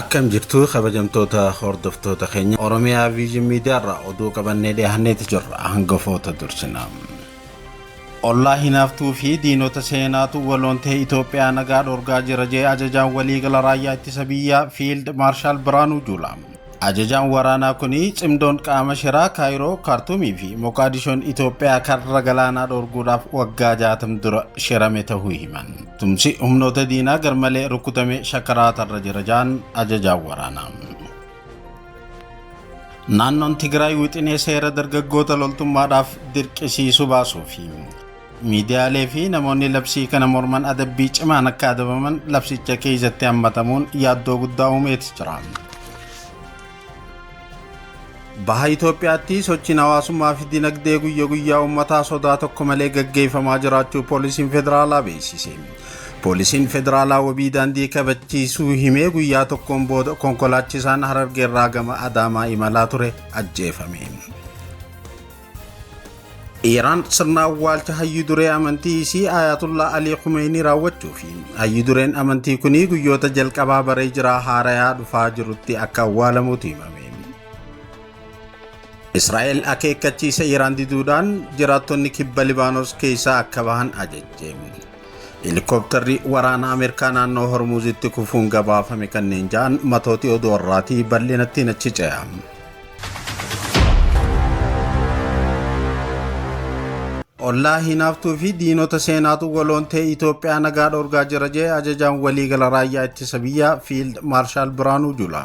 Akkam jirtu kabajamtoota hordoftoota keenya Oromiyaa Viizhin Miidiyaarraa oduu qabannee dhiyaanneeti jirra hangafoota dursina. Ollaa hinaaftuu fi diinota seenaatu waloon ta'e Itoophiyaa nagaa dhorgaa jira jee ajajaan waliigala raayyaa ittisa biyyaa Fiild Maarshaal Biraanuu Juulaa. Ajajaan waraanaa kun cimdoon qaama shiraa Kaayiroo, Kaartuumii fi Moqaadishoon Itoophiyaa karra galaanaa dhoorguudhaaf waggaa 60 dura shirame tahuu himan. Tumsi humnoota diinaa garmalee rukutamee shakaraatarra jira ja'an ajajaan waraanaa. Naannoon Tigraay wixinee seera dargaggoota loltummaadhaaf dirqisiisu baasuu fi Miidiyaalee fi namoonni labsii kana morman adabbii cimaan akka adabaman labsicha keessatti hammatamuun yaaddoo guddaa uumeeti jira. Baha Itoophiyaatti sochiin hawaasummaa fi dinagdee guyya guyyaa uummataa sodaa tokko malee gaggeeffamaa jiraachuu poolisiin federaalaa beeksise. Poolisiin federaalaa wabii daandii kabachiisuu himee guyyaa tokkoon booda konkolaachisaan Harargeerraa gama Adaamaa imalaa ture ajjeefame. Iiraan sirna awwaalcha hayyu duree amantii isii Ayatullah Alii Khumeenii raawwachuu fi hayyu dureen amantii kunii guyyoota jalqabaa baree jiraa haarayaa dhufaa jirutti akka awwaalamuutu himame. Israa'el akeekkachiisa Iiraan diduudhaan jiraattonni kibba Libaanos keessaa akka bahan ajajje. Helikoptarri waraana Ameerikaa naannoo Hormuuzitti kufuun gabaafame kanneen ja'an matooti oduu har'aatii bal'inatti nachi ce'a. Ollaa hinaaftuu fi diinota seenaatu waloontee Itoophiyaa nagaa dhorgaa jira jee ajajaan waliigala raayyaa ittisa biyyaa Fiild Maarshaal Biraanuu Jula.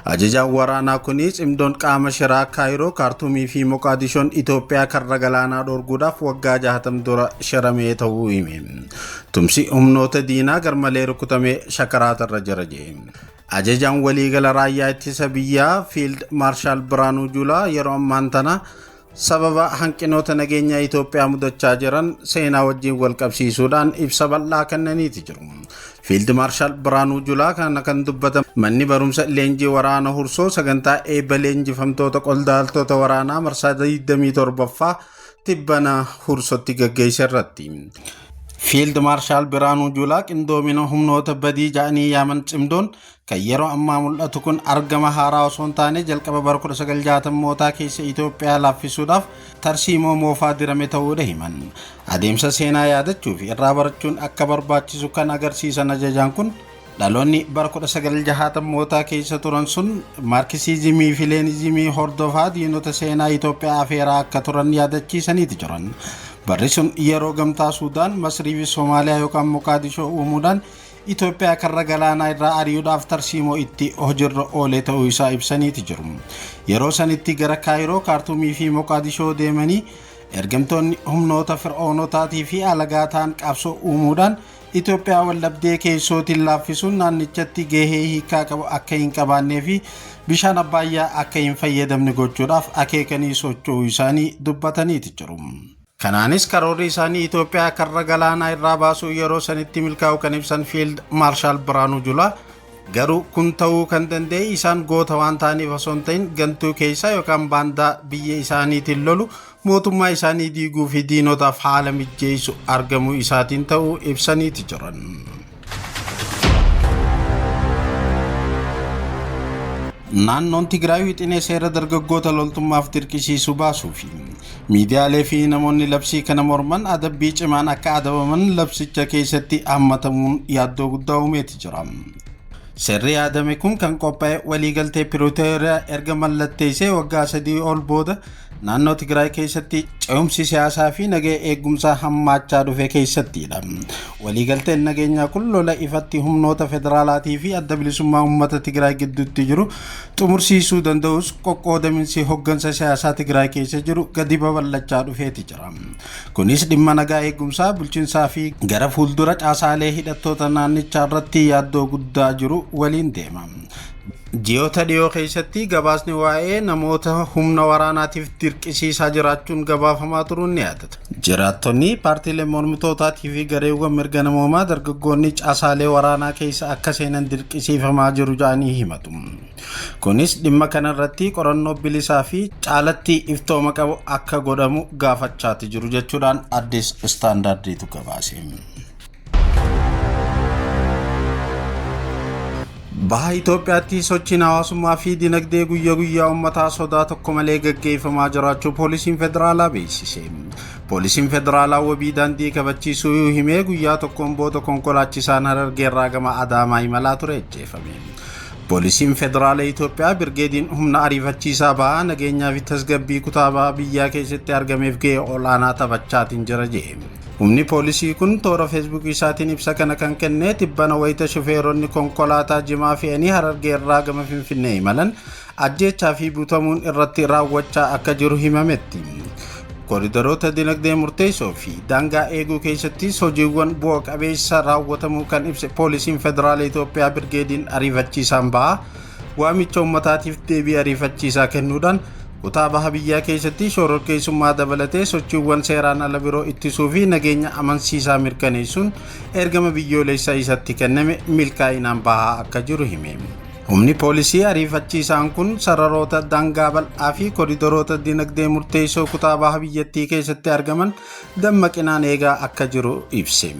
Ajajaan waraanaa kunis cimdoon qaama shiraa Kaayiroo, Kaartumii fi Moqaadishoon Itoophiyaa karra galaanaa dhorguudhaaf waggaa 60 dura shiramee ta'uu hime. Tumsi humnoota diinaa garmalee rukutamee shakaraata irra jira jee. Ajajaan waliigala raayyaa ittisa biyyaa Fiild Maarshaal Biraanuu Juulaa yeroo ammaan tana sababa hanqinoota nageenyaa Itoophiyaa mudachaa jiran seenaa wajjin wal qabsiisuudhaan ibsa bal'aa kennaniiti jiru. Fiild Maarshaal Biraanuu Julaa kana kan dubbatan manni barumsa leenjii waraana hursoo sagantaa eebba leenjifamtoota qondaaltota waraanaa marsaa 27ffaa tibbana Hursootti gaggeesse irratti. Fiild Maarshaal Biraanuu Juulaa qindoomina humnoota badii ja'anii yaaman cimdoon kan yeroo ammaa mul'atu kun argama haaraa osoo hin taane jalqaba bara 1960mootaa keessa Itoophiyaa laaffisuudhaaf tarsiimoo moofaa dirame ta'uudha himan. Adeemsa seenaa yaadachuu fi irraa barachuun akka barbaachisu kan agarsiisan ajajaan kun Dhaloonni bara 1960mootaa keessa turan sun Maarkisiizimii fi Leeniizimii hordofaa diinota seenaa Itoophiyaa afeeraa akka turan yaadachiisaniiti jiran. Barri sun yeroo gamtaa Suudaan, Masrii fi Somaaliyaa yookaan Moqaadishoo uumuudhaan Itoophiyaa karra galaanaa irraa ari'uudhaaf tarsiimoo itti hojirra oolee ta'uu isaa ibsaniiti jiru. Yeroo sanitti gara Kaayiroo, Kaartuumii fi Moqaadishoo deemanii ergamtoonni humnoota fir'oonotaatii fi alagaa ta'an qabsoo uumuudhaan Itoophiyaa waldhabdee keessootiin laaffisuun naannichatti gahee hiikaa qabu akka hin qabaannee fi bishaan abbaayyaa akka hin fayyadamne gochuudhaaf akeekanii socho'uu isaanii dubbataniiti jiru. Kanaanis karoorri isaanii Itoophiyaa karra galaanaa irraa baasuu yeroo sanitti milkaa'u kan ibsan Fiild Maarshaal Biraanuu Julaa Garuu kun ta'uu kan danda'e isaan goota waan ta'aniif osoo hin ta'in gantuu keessaa yookaan baandaa biyya isaaniitiin lolu mootummaa isaanii diiguu fi diinotaaf haala mijjeessu argamuu isaatiin ta'uu ibsaniiti jiran. Naannoon Tigraay wixinee seera dargaggoota loltummaaf dirqisiisu baasuu fi Miidiyaalee fi namoonni labsii kana morman adabbii cimaan akka adabaman labsicha keessatti hammatamuun yaaddoo guddaa uumeeti jira. Seerri yaadame kun kan qophaa'e waliigaltee Piritooriyaa erga mallatteessee waggaa sadii ol booda naannoo Tigraay keessatti ce'umsi siyaasaa fi nageenya eegumsaa hammaachaa dhufe keessattiidha. Waliigalteen nageenyaa kun lola ifatti humnoota federaalaatii fi adda bilisummaa uummata Tigraay gidduutti jiru xumursiisuu danda'us qoqqoodaminsi hoggansa siyaasaa Tigraay keessa jiru gadi babal'achaa dhufeeti jira. Kunis dhimma nagaa eegumsaa, bulchinsaa fi gara fuuldura caasaalee hidhattoota naannichaa irratti yaaddoo guddaa jiru waliin deema. Ji'oota dhiyoo keessatti gabaasni waa'ee namoota humna waraanaatiif dirqisiisaa jiraachuun gabaafamaa turuun ni yaadatama. Jiraattonni, paartiileen mormitootaatii fi gareewwan mirga namoomaa dargaggoonni caasaalee waraanaa keessa akka seenan dirqisiifamaa jiru jedhanii himatu. Kunis dhimma kana irratti qorannoo bilisaa fi caalatti iftooma qabu akka godhamu gaafachaati jiru jechuudhaan Addis Istaandaardiitu gabaase. Baha Itoophiyaatti sochiin hawaasummaa fi dinagdee guyyaa guyyaa uummataa sodaa tokko malee gaggeeffamaa jiraachuu poolisiin federaalaa beeksise. Poolisiin federaalaa wabii daandii kabachiisuu yoo himee guyyaa tokkoon booda konkolaachisaan harargeerraa gama Adaamaa imalaa ture ajjeefame. Poolisiin federaala Itoophiyaa birgeediin humna ariifachiisaa bahaa nageenyaa fi tasgabbii kutaa bahaa biyyaa keessatti argameef gahee ol'aanaa taphachaatiin jira jedhe. Humni poolisii kun toora feesbuukii isaatiin ibsa kana kan kenne tibbana wayita shufeeronni konkolaataa jimaa fe'anii harargee irraa gama finfinnee imalan ajjeechaa fi butamuun irratti raawwachaa akka jiru himametti. Kooridaroota dinagdee murteessoo fi daangaa eeguu keessattis hojiiwwan bu'a qabeessa raawwatamuu kan ibse poolisiin federaala Itoophiyaa birgeediin ariifachiisaan ba'a. waamicha ummataatiif deebii ariifachiisaa kennuudhaan kutaa baha biyyaa keessatti shororkeessummaa dabalatee sochiiwwan seeraan ala biroo ittisuu fi nageenya amansiisaa mirkaneessuun ergama biyyoolessaa isatti kenname milkaa'inaan bahaa akka jiru hime. Humni poolisii ariifachiisaan kun sararoota daangaa bal'aa fi koridoroota dinagdee murteessoo kutaa baha biyyattii keessatti argaman dammaqinaan eegaa akka jiru ibse.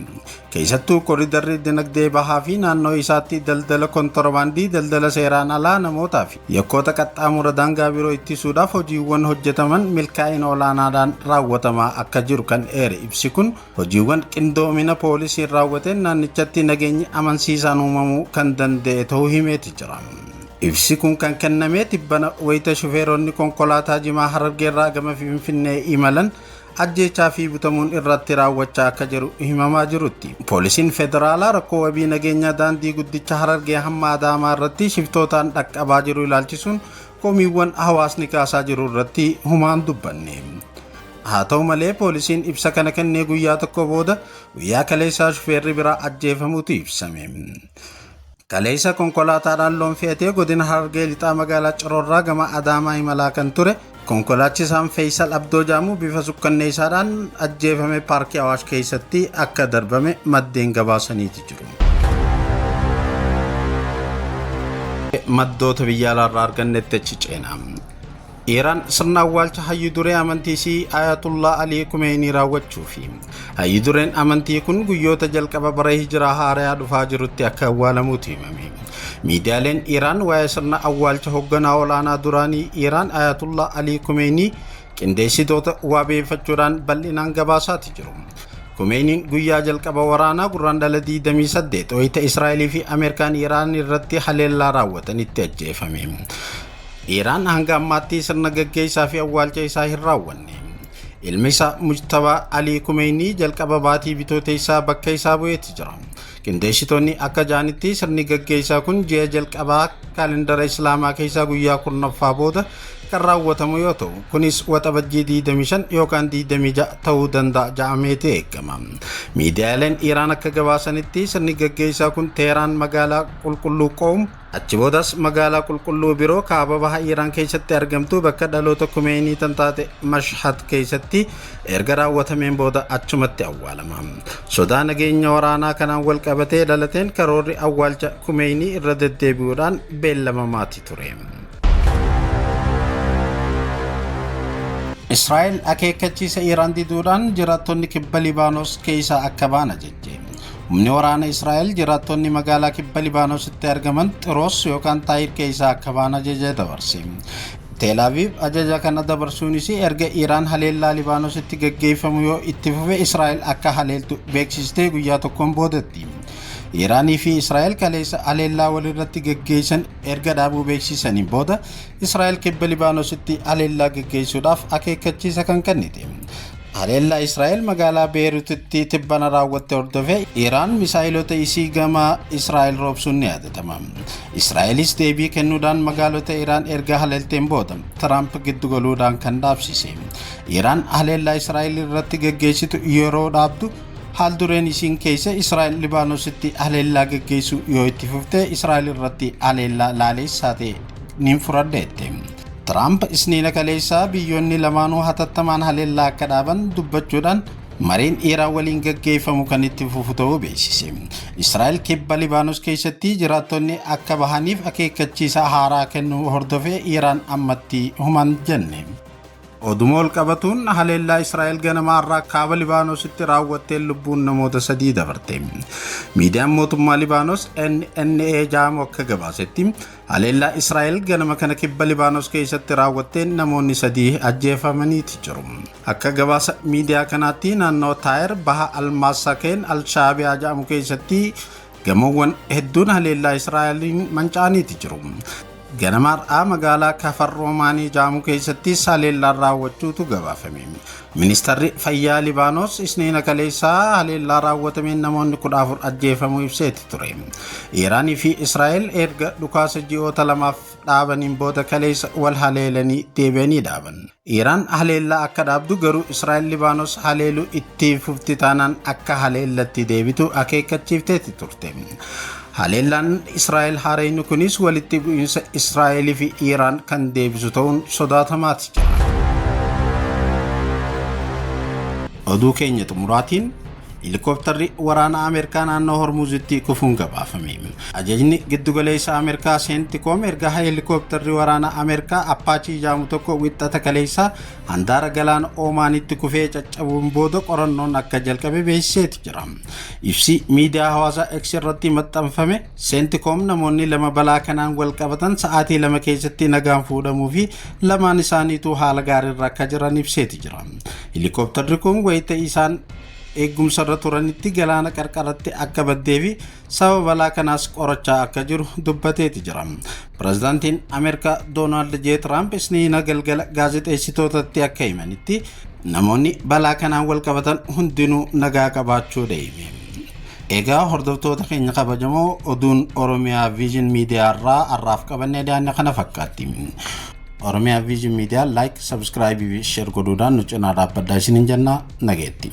Keessattuu koridarri dinagdee bahaa fi naannoo isaatti daldala kontorbaandii, daldala seeraan alaa namootaa fi yakkoota qaxxaamura daangaa biroo ittisuudhaaf hojiiwwan hojjetaman milkaa'ina olaanaadhaan raawwatamaa akka jiru kan eere ibsi kun hojiiwwan qindoomina poolisiin raawwateen naannichatti nageenyi amansiisaan uumamuu kan danda'e ta'uu himeeti jira. Ibsi kun kan kennamee tibbana wayita shufeeronni konkolaataa jimaa harargeerraa gama Finfinnee imalan ajjeechaa fi butamuun irratti raawwachaa akka jiru himamaa jirutti. Poolisiin federaalaa rakkoo wabii nageenyaa daandii guddicha Harargee hamma Adaamaa irratti shiftootaan dhaqqabaa jiru ilaalchisuun komiiwwan hawaasni kaasaa jiru irratti humaan dubbanne. Haa ta'u malee poolisiin ibsa kana kennee guyyaa tokko booda guyyaa kaleessaa shufeerri biraa ajjeefamuutu ibsame. Kaleessa konkolaataadhaan loon fe'atee godina Harargee Lixaa magaalaa Cirorraa gama Adaamaa imalaa kan ture konkolaachisaan Feeysal Abdoo Jaamuu bifa sukkanneessaadhaan ajjeefame paarkii Awaash keessatti akka darbame maddeen gabaasaniiti jiru. Maddoota biyya alaarraa argannetti achi ceena. Iiraan sirna awwaalcha hayyu duree amantii isii Ayatullaa Alii Kumeenii raawwachuu fi hayyu dureen amantii kun guyyoota jalqaba bara hijiraa haarayaa dhufaa jirutti akka awwaalamuutu himame. Miidiyaaleen Iiraan waa'ee sirna awwaalcha hogganaa olaanaa duraanii Iiraan Ayatullaa Alii Kumeenii qindeessitoota waabeeffachuudhaan bal'inaan gabaasaati jiru. Kumeeniin guyyaa jalqaba waraanaa gurraan dhala 28 wayita Israa'elii fi Ameerikaan Iiraan irratti haleellaa raawwatanitti ajjeefame. Iiraan hanga ammaatti sirna gaggeessaa fi awwaalcha isaa hin raawwanne. Ilmi isaa Mujtabaa Alii Kumeeynii jalqaba baatii bitooteessaa bakka isaa bu'eeti jira. Qindeessitoonni akka ja'anitti sirni gaggeessaa kun ji'a jalqabaa kaalendara Islaamaa keessaa guyyaa kurnaffaa booda kan raawwatamu yoo ta'u, kunis waxabajjii 25 yookaan 26 ta'uu danda'a ja'ameeti eegama. Miidiyaaleen Iiraan akka gabaasanitti sirni gaggeessaa kun Teeraan magaalaa qulqulluu Qoom Achi boodas magaalaa qulqulluu biroo kaaba baha Iiraan keessatti argamtuu bakka dhaloota Kumeeyinii tan taate Mashhad keessatti erga raawwatameen booda achumatti awwaalama. Sodaa nageenya waraanaa kanaan wal qabatee dhalateen karoorri awwaalcha Kumeeyinii irra deddeebi'uudhaan beellamamaati ture. Israa'el akeekkachiisa Iiraan diduudhaan jiraattonni kibba Libaanos keessaa akka ba'an ajajje. Humni waraana Israa'el jiraattonni magaalaa kibba Libaanositti argaman Xiroos yookaan Taayir keessaa akka ba'an ajaja dabarse. Teel Aviiv ajaja kana dabarsuunis erga Iraan haleellaa Libaanositti gaggeeffamu yoo itti fufe Israa'el akka haleeltu beeksistee guyyaa tokkoon boodatti. Iraanii fi Israa'el kaleessa haleellaa walirratti gaggeessan erga dhaabuu beeksisaniin booda Israa'el kibba Libaanositti haleellaa gaggeessuudhaaf akeekkachiisa kan kennite. Haleellaa Israa'el magaalaa Beerutitti tibbana raawwatte hordofee Iraan misaa'ilota isii gama Israa'el roobsuun ni yaadatama. Israa'elis deebii kennuudhaan magaalota Iraan erga haleelteen booda Tiraamp giddu galuudhaan kan dhaabsise. Iraan haleellaa Israa'el irratti gaggeessitu yeroo dhaabdu haal dureen isiin keessa Israa'el Libaanositti haleellaa gaggeessuu yoo itti fufte Israa'el irratti haleellaa laaleessaa ta'e niin furadheette. Tiraamp isniina kaleessaa biyyoonni lamaanuu hatattamaan haleellaa akka dhaaban dubbachuudhaan mariin Iiraan waliin gaggeeffamu kan itti fufu ta'uu beeksise. Israa'el kibba Libaanos keessatti jiraattonni akka bahaniif akeekkachiisa haaraa kennuu hordofee Iiraan ammatti human jenne. Oduma ol qabatuun haleellaa Israa'el ganamaa irraa kaaba Libaanositti raawwatteen lubbuun namoota sadii dabarte. Miidiyaan mootummaa Libaanos NNA jaamu akka gabaasetti Haleellaa Israa'el ganama kana kibba Libaanos keessatti raawwatteen namoonni sadii ajjeefamaniiti jiru. Akka gabaasa miidiyaa kanaatti naannoo Taayer baha Almaasakeen Alshaabiyaa jedhamu keessatti gamoowwan hedduun haleellaa Israa'eliin manca'aniiti jiru. Ganama har'aa magaalaa Kafar Roomaanii jedhamu keessattis haleellaan raawwachuutu gabaafame. Ministarri Fayyaa Libaanos Isniina kaleessaa haleellaa raawwatameen namoonni 14 ajjeefamuu ibseeti ture. Iiraanii fi Israa'el erga dhukaasa ji'oota lamaaf dhaabaniin booda kaleessa wal haleelanii deebi'anii dhaaban. Iiraan haleellaa akka dhaabdu garuu Israa'el Libaanos haleeluu itti fufti taanaan akka haleellatti deebitu akeekkachiifteeti turte. Haleellaan Israa'el haarayni kunis walitti bu'iinsa Israa'el fi Iiraan kan deebisu ta'uun sodaatamaati jira. Oduu keenya xumuraatiin Helikoptarri waraanaa Ameerikaa naannoo Hormuuzitti kufuun gabaafame. Ajajni giddugaleessa Ameerikaa Seentikoom erga helikoptarri waraanaa Ameerikaa Appaachii jedhamu tokko wixxata kaleessaa handaara galaana Oomaanitti kufee caccabuun booda qorannoon akka jalqabe beeksiseeti jira. Ibsi miidiyaa hawaasaa X irratti maxxanfame Seentikoom namoonni lama balaa kanaan wal qabatan sa'aatii lama keessatti nagaan fuudhamuu fi lamaan isaaniituu haala gaariirra akka jiran ibseeti jira. Helikoptarri kun wayita isaan eeggumsarra turanitti galaana qarqaratti akka baddee fi Sababa balaa kanaas qorachaa akka jiru dubbateeti jira. Pirezidaantiin Ameerikaa Doonaald J. Tiraamp isniina galgala gaazexeessitootatti akka himanitti namoonni balaa kanaan wal qabatan hundinuu nagaa qabaachuu deeme. Egaa hordoftoota keenya kabajamoo oduun Oromiyaa Viizhin Miidiyaa irraa har'aaf qabannee daanne kana fakkaatti. Oromiyaa Viizhin Miidiyaa laayik, sabskraayibii fi sheer godhuudhaan nu cinaa dhaabbadhaa isiniin jennaa nageetti.